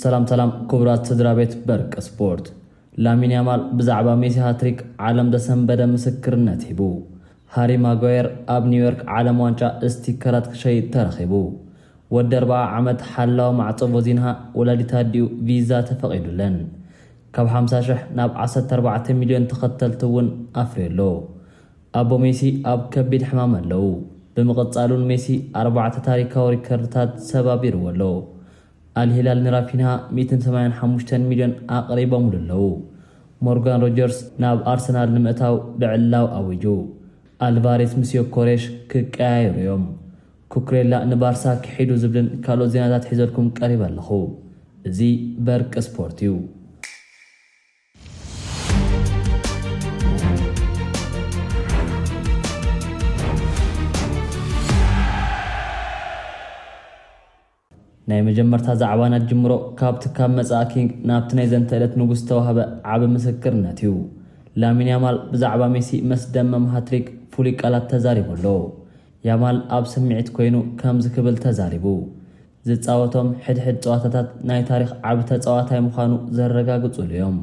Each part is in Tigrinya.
ሰላም ሰላም ክቡራት ስድራ ቤት በርቂ ስፖርት ላሚን ያማል ብዛዕባ ሜሲ ሃትሪክ ዓለም ዘሰንበደ ምስክርነት ሂቡ ሃሪ ማጓየር ኣብ ኒውዮርክ ዓለም ዋንጫ ስቲከራት ክሸይጥ ተረኺቡ ወዲ ኣርባዓ ዓመት ሓላዊ ማዕጾ ቮዚንሃ ወላዲት ኣዲኡ ቪዛ ተፈቒዱለን ካብ ሓምሳ ሽሕ ናብ ዓሰርተ ኣርባዕተ ሚልዮን ተኸተልቲ እውን ኣፍርዩ ኣሎ። ኣቦ ሜሲ ኣብ ከቢድ ሕማም ኣለዉ፣ ብምቕጻል'ውን ሜሲ ኣርባዕተ ታሪካዊ ሪከርድታት ሰባቢርዎ ኣሎ። ኣል ሂላል ንራፊንሃ ሚእትን ሰማንያን ሓሙሽተን ሚልዮን ኣቕሪቦምሉ ኣለዉ። ሞርጋን ሮጀርስ ናብ ኣርሰናል ንምእታው ልዕላው ኣዊጁ። ኣልቫሬስ ምስ ዮኮሬሽ ክቀያየሩ እዮም። ኩኩሬላ ንባርሳ ኪሒዱ ዝብልን ካልኦት ዜናታት ሒዘልኩም ቀሪበ ኣለኹ። እዚ በርቂ ስፖርት እዩ። ናይ መጀመርታ ዛዕባ ነጅምሮ ካብቲ ካብ መጻኢ ኪንግ ናብቲ ናይ ዘንተእለት ንጉስ ዝተዋህበ ዓቢ ምስክርነት እዩ። ላሚን ያማል ብዛዕባ ሜሲ መስደመም ሃትሪክ ፍሉይ ቃላት ተዛሪቡ ኣሎ። ያማል ኣብ ስምዒት ኮይኑ ከምዚ ክብል ተዛሪቡ፣ ዝጻወቶም ሕድሕድ ጸዋታታት ናይ ታሪኽ ዓቢ ተጻዋታይ ምዃኑ ዘረጋግጹሉ እዮም።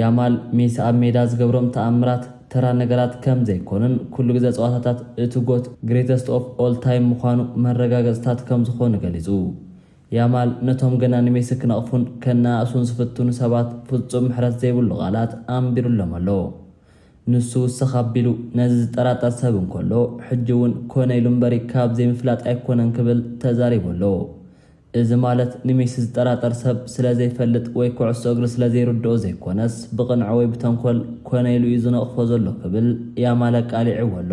ያማል ሜሲ ኣብ ሜዳ ዝገብሮም ተኣምራት ተራ ነገራት ከም ዘይኰኑን ኵሉ ግዘ ጸዋታታት እቲ ጎት፣ Greatest of All Time፣ ምዃኑ መረጋገጽታት ከም ዝዀኑ ገሊጹ። ያማል ነቶም ገና ንሜሲ ክነቕፉን ከነኣእሱን ዝፍትኑ ሰባት ፍጹም ምሕረት ዘይብሉ ቃላት ኣንቢሩሎም ኣሎ። ንሱ ውስኽ ኣቢሉ ነዚ ዝጠራጠር ሰብ እንከሎ ሕጂ'ውን ኰነ ኢሉ እምበሪ ካብ ዘይምፍላጥ ኣይኰነን ክብል ተዛሪቡ ኣሎ። እዚ ማለት ንሜሲ ዝጠራጠር ሰብ ስለ ዘይፈልጥ ወይ ኩዕሶ እግሪ ስለ ዘይርድኦ ዘይኮነስ ብቕንዕ ወይ ብተንኮል ኮነ ኢሉ እዩ ዝነቕፎ ዘሎ ክብል ያማል ኣቃሊዕዎ ኣሎ።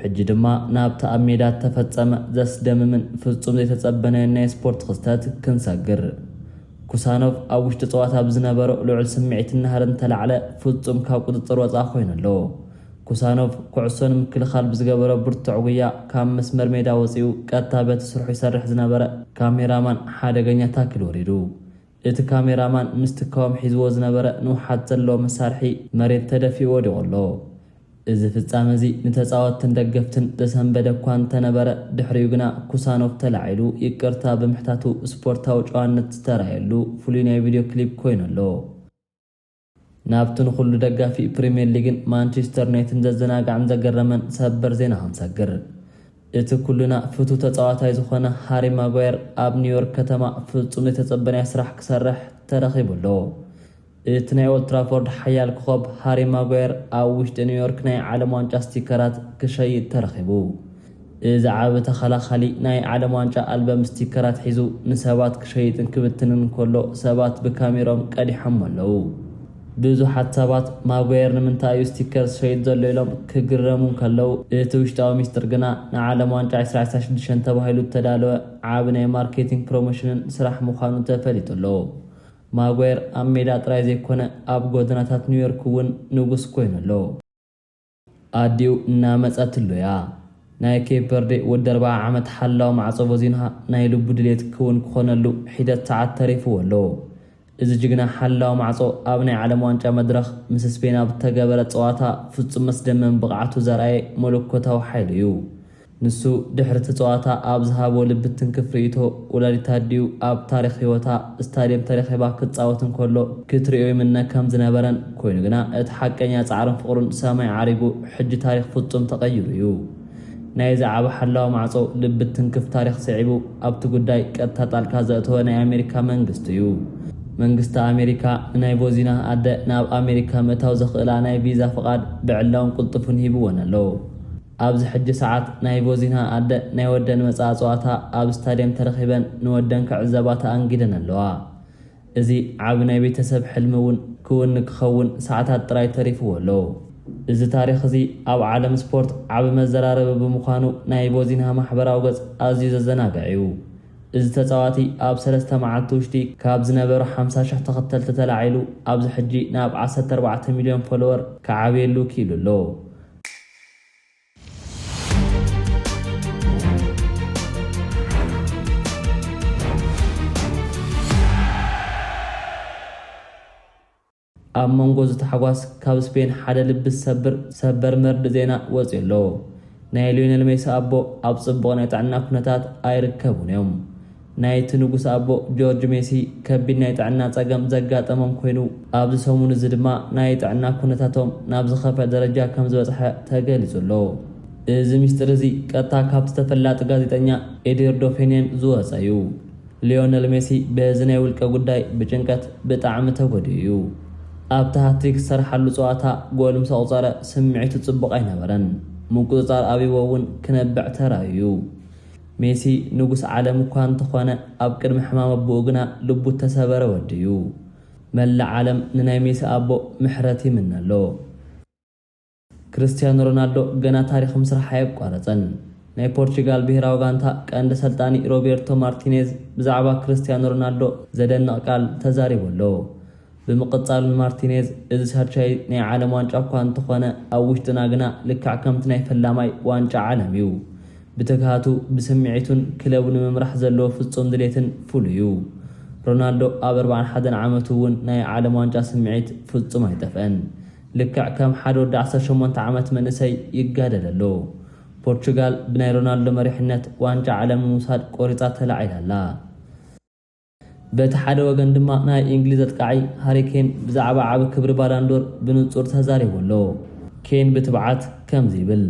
ሕጂ ድማ ናብቲ ኣብ ሜዳ እተፈጸመ ዘስደምምን ፍጹም ዘይተጸበናዮን ናይ ስፖርት ክስተት ክንሰግር። ኩሳኖቭ ኣብ ውሽጢ ጸዋታ ብዝነበሮ ልዑል ስምዒትን ናህርን እተላዕለ ፍጹም ካብ ቁጽጽር ወጻኢ ኮይኑ ኣሎ። ኩሳኖቭ ኩዕሶ ንምክልኻል ብዝገበሮ ብርቱዕ ጉያ ካብ መስመር ሜዳ ወጺኡ ቀጥታ በቲ ስርሑ ይሰርሕ ዝነበረ ካሜራማን ሓደገኛ ታክል ወሪዱ። እቲ ካሜራማን ምስቲ ካውም ሒዝዎ ዝነበረ ንውሓት ዘለዎ መሳርሒ መሬት ተደፊኡ ወዲቑ ኣሎ። እዚ ፍጻመ እዚ ንተጻወትትን ደገፍትን ዘሰንበደ እኳ እንተነበረ፣ ድሕሪኡ ግና ኩሳኖቭ ተላዒሉ ይቅርታ ብምሕታቱ ስፖርታዊ ጨዋነት ዝተራእየሉ ፍሉይ ናይ ቪድዮ ክሊፕ ኮይኑ ኣሎ። ናብቲ ንኹሉ ደጋፊ ፕሪምየር ሊግን ማንቼስተር ዩናይትድን ዘዘናግዐን ዘገረመን ሰበር ዜና ክንሰግር። እቲ ኩልና ፍቱው ተጻዋታይ ዝኾነ ሃሪ ማጓየር ኣብ ኒውዮርክ ከተማ ፍጹም ዘይተጸበናዮ ስራሕ ክሰርሕ ተረኺቡ ኣሎ። እቲ ናይ ኦልድ ትራፎርድ ሓያል ኮኾብ ሃሪ ማጓየር ኣብ ውሽጢ ኒውዮርክ ናይ ዓለም ዋንጫ ስቲከራት ክሸይጥ ተረኺቡ። እዚ ዓቢ ተኸላኻሊ ናይ ዓለም ዋንጫ ኣልበም ስቲከራት ሒዙ ንሰባት ክሸይጥን ክብትንን እንከሎ ሰባት ብካሜርኦም ቀዲሖሞ ኣለዉ። ብዙሓት ሰባት ማጓየር ንምንታይ እዩ ስቲከር ዝሸይጥ ዘሎ ኢሎም ክግረሙ እንከለዉ እቲ ውሽጣዊ ሚስጥር ግና ንዓለም ዋንጫ ዕስራ ዕስራ ሽዱሽተ ተባሂሉ እተዳለወ ዓቢ ናይ ማርኬቲንግ ፕሮሞሽንን ስራሕ ምዃኑ ተፈሊጡ ኣሎ። ማጓየር ኣብ ሜዳ ጥራይ ዘይኮነ ኣብ ጎደናታት ኒውዮርክ እውን ንጉስ ኮይኑ ኣሎ። ኣዲኡ እናመጸትሉ እያ። ናይ ኬፕ ቨርዴ ወዲ ኣርብዓ ዓመት ሓላው ማዕጾ ቮዚንሃ ናይ ልቡ ድሌት ክውን ክኾነሉ ሒደት ሰዓት ተሪፍዎ ኣሎ። እዚ ጅግና ሓላው ማዕጾ ኣብ ናይ ዓለም ዋንጫ መድረኽ ምስ ስፔን ኣብ ዝተገበረ ጸዋታ ፍጹም መስደመም ብቕዓቱ ዘርኣየ መለኮታዊ ሓይሊ እዩ። ንሱ ድሕሪ እቲ ጸዋታ ኣብ ዝሃቦ ልቢ ትንክፍ ርእይቶ፣ ወላዲት ኣዲኡ ኣብ ታሪኽ ህይወታ ስታድየም ተረኺባ ክትጻወት እንከሎ ክትርእዮ ይምነ ከም ዝነበረን፣ ኮይኑ ግና እቲ ሓቀኛ ጻዕርን ፍቕሩን ሰማይ ዓሪጉ ሕጂ ታሪኽ ፍጹም ተቐይሩ እዩ። ናይዚ ዓቢ ሓላዊ ማዕጾ ልቢ ትንክፍ ታሪኽ ስዒቡ ኣብቲ ጉዳይ ቀጥታ ጣልቃ ዘእተወ ናይ ኣሜሪካ መንግስቲ እዩ። መንግስቲ ኣሜሪካ ንናይ ቮዚናህ ኣደ ናብ ኣሜሪካ ምእታው ዘኽእላ ናይ ቪዛ ፍቓድ ብዕላውን ቅልጡፍን ሂብወን ኣሎ። ኣብዚ ሕጂ ሰዓት ናይ ቮዚና ኣደ ናይ ወደን መጻኢ ጸዋታ ኣብ ስታድየም ተረኺበን ንወደን ክዕዘባ ተኣንጊደን ኣለዋ። እዚ ዓቢ ናይ ቤተሰብ ሕልሚ እውን ክውን ክኸውን ሰዓታት ጥራይ ተሪፍዎ ኣሎ። እዚ ታሪኽ እዚ ኣብ ዓለም ስፖርት ዓቢ መዘራረቢ ብምዃኑ ናይ ቮዚና ማሕበራዊ ገጽ ኣዝዩ ዘዘናግዕ እዩ። እዚ ተጻዋቲ ኣብ ሰለስተ መዓልቲ ውሽጢ ካብ ዝነበሮ ሓምሳ ሽሕ ተኸተልቲ ተላዒሉ ኣብዚ ሕጂ ናብ ዓሰርተ ኣርባዕተ ሚልዮን ፎሎወር ክዓብየሉ ክኢሉ ኣሎ። ኣብ መንጎ እዚ ታሕጓስ ካብ ስፔን ሓደ ልቢ ዝሰብር ሰበር መርድእ ዜና ወጺኡ ኣሎ። ናይ ሊዮኔል ሜሲ ኣቦ ኣብ ጽቡቕ ናይ ጥዕና ኩነታት ኣይርከቡን እዮም። ናይቲ ንጉስ ኣቦ ጆርጅ ሜሲ ከቢድ ናይ ጥዕና ጸገም ዘጋጠሞም ኮይኑ፣ ኣብዚ ሰሙን'ዚ ድማ ናይ ጥዕና ኩነታቶም ናብ ዝኸፍኣ ደረጃ ከም ዝበጽሐ ተገሊጹ ኣሎ። እዚ ምስጢር'ዚ ቀጥታ ካብቲ ተፈላጢ ጋዜጠኛ ኤድርዶ ፌንየን ዝወጸ'ዩ። ሊዮነል ሜሲ በዚ ናይ ውልቀ ጉዳይ ብጭንቀት ብጣዕሚ ተጎዲኡ'ዩ። ኣብቲ ሃትሪክ ዝሰርሓሉ ጸዋታ ጎል ምስ ኣቑጸረ ስምዒቱ ጽቡቕ ኣይነበረን፣ ምቁጽጻር ኣብዩዎ'ውን ክነብዕ ተራእዩ'ዩ። ሜሲ ንጉስ ዓለም እኳ እንተኾነ ኣብ ቅድሚ ሕማም ኣቡኡ ግና ልቡ እተሰበረ ወዲ እዩ። መላእ ዓለም ንናይ ሜሲ ኣቦ ምሕረት ይምነ ኣሎ። ክርስትያኖ ሮናልዶ ገና ታሪኽ ምስራሕ ኣየቋረጸን። ናይ ፖርቹጋል ብሄራዊ ጋንታ ቀንዲ ኣሰልጣኒ ሮቤርቶ ማርቲኔዝ ብዛዕባ ክርስትያኖ ሮናልዶ ዘደንቕ ቃል ተዛሪቡ ኣሎ። ብምቕጻል ንማርቲኔዝ፣ እዚ ሳልሻይ ናይ ዓለም ዋንጫ እኳ እንተኾነ፣ ኣብ ውሽጥና ግና ልክዕ ከምቲ ናይ ፈላማይ ዋንጫ ዓለም እዩ። ብትግሃቱ፣ ብስምዒቱን ክለቡ ንምምራሕ ዘለዎ ፍጹም ድሌትን ፍሉይ እዩ። ሮናልዶ ኣብ ኣርብዓን ሓደን ዓመቱ እውን ናይ ዓለም ዋንጫ ስምዒት ፍጹም ኣይጠፍአን። ልክዕ ከም ሓደ ወዲ ዓሰርተ ሸሞንተ ዓመት መንእሰይ ይጋደል ኣሎ። ፖርቹጋል ብናይ ሮናልዶ መሪሕነት ዋንጫ ዓለም ንምውሳድ ቆሪጻ ተላዒላ ኣላ። በቲ ሓደ ወገን ድማ ናይ እንግሊዝ ኣጥቃዓይ ሃሪ ኬን ብዛዕባ ዓቢ ክብሪ ባላንዶር ብንጹር ተዛሪቡ ኣሎ። ኬን ብትብዓት ከምዚ ይብል፣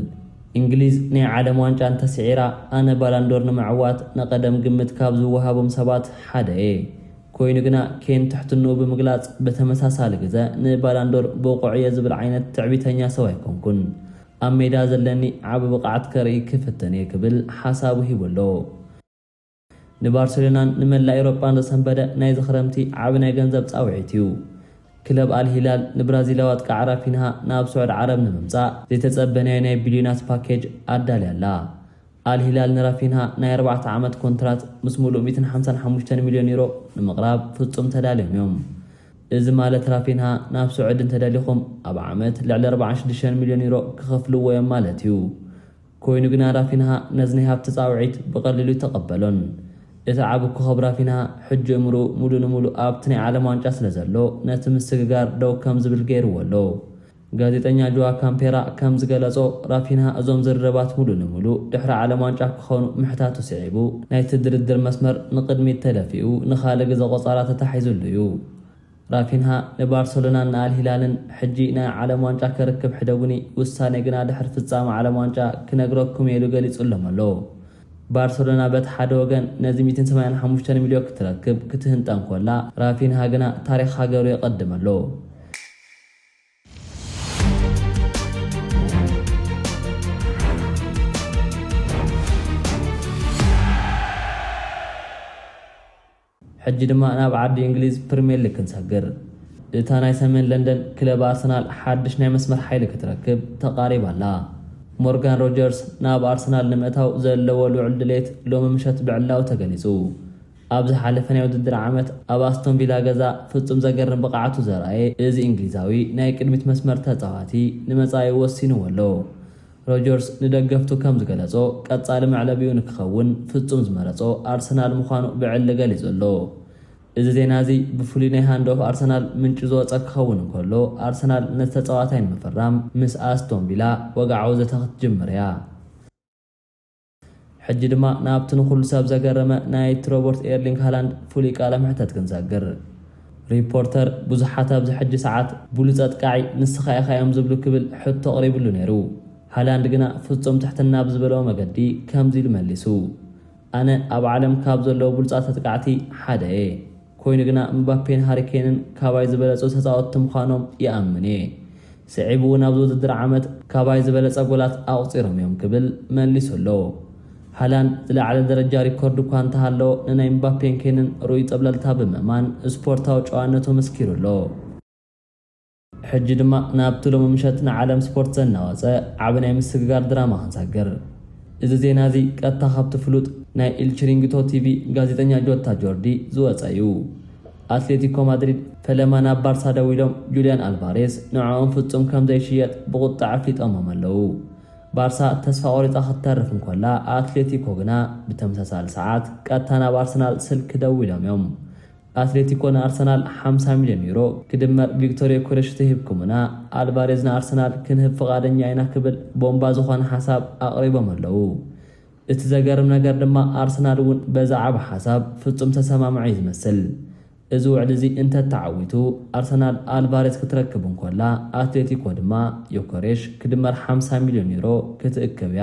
እንግሊዝ ናይ ዓለም ዋንጫ እንተ ስዒራ፣ ኣነ ባላንዶር ንምዕዋት ንቐደም ግምት ካብ ዝወሃቦም ሰባት ሓደ እየ። ኮይኑ ግና ኬን ትሕትንኡ ብምግላጽ ብተመሳሳሊ ግዘ ንባላንዶር ብቑዕ እየ ዝብል ዓይነት ትዕቢተኛ ሰብ ኣይኮንኩን። ኣብ ሜዳ ዘለኒ ዓቢ ብቕዓት ከርኢ ክፍትን እየ ክብል ሓሳቡ ሂቡ ኣሎ። ንባርሴሎናን ንመላእ ኤውሮጳን ዘሰንበደ ናይዚ ክረምቲ ዓቢ ናይ ገንዘብ ጻውዒት እዩ። ክለብ ኣል ሂላል ንብራዚላዊ ኣጥቃዒ ራፊንሃ ናብ ስዑድ ዓረብ ንምምጻእ ዘይተጸበናዮ ናይ ቢልዮናት ፓኬጅ ኣዳልያ ኣላ። ኣል ሂላል ንራፊንሃ ናይ ኣርባዕተ ዓመት ኮንትራት ምስ ምሉእ ሚእትን ሓምሳን ሓሙሽተን ሚልዮን ዩሮ ንምቕራብ ፍጹም ተዳልዮም እዮም። እዚ ማለት ራፊንሃ ናብ ስዑድ እንተደሊኹም ኣብ ዓመት ልዕሊ ኣርብዓን ሽዱሽተን ሚልዮን ዩሮ ክኸፍልዎ እዮም ማለት እዩ። ኰይኑ ግና ራፊንሃ ነዚ ናይ ሃብቲ ጻውዒት ብቐሊሉ ኣይተቐበሎን። እቲ ዓቢ ኮኾብ ራፊንሃ ሕጂ እምርኡ ምሉእ ንምሉእ ኣብቲ ናይ ዓለም ዋንጫ ስለ ዘሎ ነቲ ምስግጋር ደው ከም ዝብል ገይርዎ ኣሎ። ጋዜጠኛ ጆዋ ካምፔራ ከም ዝገለጾ ራፊንሃ እዞም ዝርርባት ምሉእ ንምሉእ ድሕሪ ዓለም ዋንጫ ክዀኑ ምሕታቱ ስዒቡ ናይቲ ድርድር መስመር ንቕድሚት ተደፊኡ ንኻልእ ግዘ ቆጻራ ተታሒዙሉ'ዩ። ራፊንሃ ንባርሰሎናን ንኣል ሂላልን ሕጂ ናይ ዓለም ዋንጫ ከርክብ ሕደጉኒ፣ ውሳኔ ግና ድሕሪ ፍጻመ ዓለም ዋንጫ ክነግረኩም'የ ኢሉ ገሊጹሎም ኣሎ። ባርሰሎና በቲ ሓደ ወገን ነዚ ሚእትን ሰማንያን ሓሙሽተን ሚልዮ ክትረክብ ክትህንጠ እንኮላ፣ ራፊንሃ ግና ታሪኽ ሃገሩ የቐድም ኣሎ። ሕጂ ድማ ናብ ዓዲ እንግሊዝ ፕሪምየር ሊግ ክንሰግር። እታ ናይ ሰሜን ለንደን ክለብ ኣርሰናል ሓድሽ ናይ መስመር ሓይሊ ክትረክብ ተቓሪባ ኣላ። ሞርጋን ሮጀርስ ናብ ኣርሰናል ንምእታው ዘለዎ ልዑል ድሌት ሎሚ ምሸት ብዕላዊ ተገሊጹ። ኣብ ዝሓለፈ ናይ ውድድር ዓመት ኣብ ኣስቶን ቪላ ገዛ ፍጹም ዘገርም ብቕዓቱ ዘርኣየ እዚ እንግሊዛዊ ናይ ቅድሚት መስመር ተጻዋቲ ንመጻኢኡ ወሲንዎ ኣሎ። ሮጀርስ ንደገፍቱ ከም ዝገለጾ፣ ቀጻሊ መዕለቢኡ ንክኸውን ፍጹም ዝመረጾ ኣርሰናል ምዃኑ ብዕሊ ገሊጹ ኣሎ። እዚ ዜና እዚ ብፍሉይ ናይ ሃንድ ኦፍ ኣርሰናል ምንጩ ዝወጸ ክኸውን እንከሎ፣ ኣርሰናል ነቲ ተጻዋታይ ንምፍራም ምስ ኣስቶን ቪላ ወግዓዊ ዘተ ክትጅምር እያ። ሕጂ ድማ ናብቲ ንኹሉ ሰብ ዘገረመ ናይቲ ሮበርት ኤርሊንግ ሃላንድ ፍሉይ ቃለ መሕተት ክንሰግር። ሪፖርተር ብዙሓት ኣብዚ ሕጂ ሰዓት ብሉጽ ኣጥቃዒ ንስኻ ኢኻ እዮም ዝብሉ ክብል ሕቶ ኣቕሪብሉ ነይሩ። ሃላንድ ግና ፍጹም ትሕትና ብዝመልኦ መገዲ ከምዚ ኢሉ መሊሱ፣ ኣነ ኣብ ዓለም ካብ ዘለዉ ብሉጻት ኣጥቃዕቲ ሓደ እየ። ኮይኑ ግና ምባፔን ሃሪ ኬንን ካባይ ዝበለጹ ተጻወትቲ ምዃኖም ይኣምን እየ። ስዒቡ'ውን ኣብዚ ውድድር ዓመት ካባይ ዝበለጸ ጎላት ኣቑጺሮም እዮም ክብል መሊሱ ኣሎ። ሃላንድ ዝለዓለ ደረጃ ሪኮርድ እኳ እንተሃለዎ ንናይ ምባፔን ኬንን ርኡይ ጸብለልታ ብምእማን ስፖርታዊ ጨዋነቱ መስኪሩ ኣሎ። ሕጂ ድማ ናብቲ ሎሚ ምሸት ንዓለም ስፖርት ዘናወጸ ዓቢ ናይ ምስግጋር ድራማ ክንሰግር። እዚ ዜና እዚ ቀጥታ ካብቲ ፍሉጥ ናይ ኢል ቺሪንግቶ ቲቪ ጋዜጠኛ ጆታ ጆርዲ ዝወጸ እዩ። ኣትሌቲኮ ማድሪድ ፈለማ ናብ ባርሳ ደዊሎም ጁልያን ኣልቫሬዝ ንዕኦም ፍጹም ከም ዘይሽየጥ ብቑጥዐ ኣፍሊጦሞም ኣለዉ። ባርሳ ተስፋ ቆሪጻ ክትተርፍ እንኮላ ኣትሌቲኮ ግና ብተመሳሳሊ ሰዓት ቀጥታ ናብ ኣርሰናል ስልኪ ደዊሎም እዮም። ኣትሌቲኮ ንኣርሰናል ሓምሳ ሚልዮን ዩሮ ክድመር ቪክቶር ዮከረሽ ተሂብኩምና ኣልቫሬዝ ንኣርሰናል ክንህብ ፍቓደኛ ኢና ክብል ቦምባ ዝኾነ ሓሳብ ኣቕሪቦም ኣለዉ። እቲ ዘገርም ነገር ድማ ኣርሰናል እውን በዚ ዓቢ ሓሳብ ፍጹም ዝተሰማምዐ እዩ ዝመስል። እዚ ውዕሊ እዚ እንተተዓዊቱ ኣርሰናል ኣልቫሬዝ ክትረክብ እንኮላ ኣትሌቲኮ ድማ ዮከሬሽ ክድመር ሓምሳ ሚልዮን ዩሮ ክትእክብ እያ።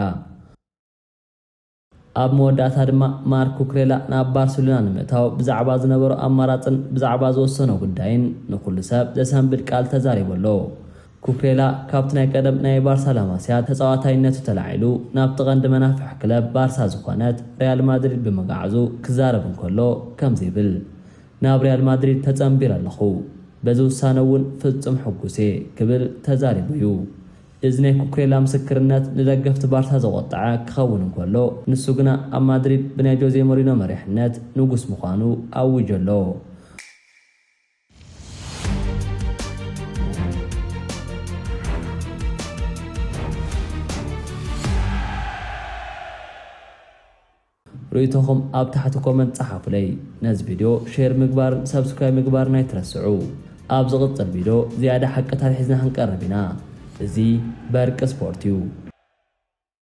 ኣብ መወዳእታ ድማ ማርክ ኩኩሬላ ናብ ባርሴሎና ንምእታው ብዛዕባ ዝነበሮ ኣማራጽን ብዛዕባ ዝወሰኖ ጉዳይን ንኹሉ ሰብ ዘሰንብድ ቃል ተዛሪቡ ኣሎ። ኩኩሬላ ካብቲ ናይ ቀደም ናይ ባርሳ ላማሲያ ተጻዋታይነቱ ተላዒሉ ናብቲ ቀንዲ መናፍሕ ክለብ ባርሳ ዝኾነት ሪያል ማድሪድ ብምግዓዙ ክዛረብ እንከሎ ከምዚ ይብል፣ ናብ ሪያል ማድሪድ ተጸንቢረ ኣለኹ። በዚ ውሳነ'ውን ፍጹም ሕጉስ'የ ክብል ተዛሪቡ'ዩ። እዚ ናይ ኩኩሬላ ምስክርነት ንደገፍቲ ባርሳ ዘቖጠዐ ክኸውን እንከሎ፣ ንሱ ግና ኣብ ማድሪድ ብናይ ጆዜ ሞሪኖ መሪሕነት ንጉስ ምዃኑ ኣዊጁ ኣሎ። ርእይቶኹም ኣብ ታሕቲ ኮመንት ጸሓፉለይ። ነዚ ቪድዮ ሼር ምግባርን ሰብስክራይብ ምግባርን ኣይትረስዑ። ኣብ ዝቕጽል ቪድዮ ዝያዳ ሓቅታት ሒዝና ክንቀርብ ኢና። እዚ በርቂ ስፖርት እዩ።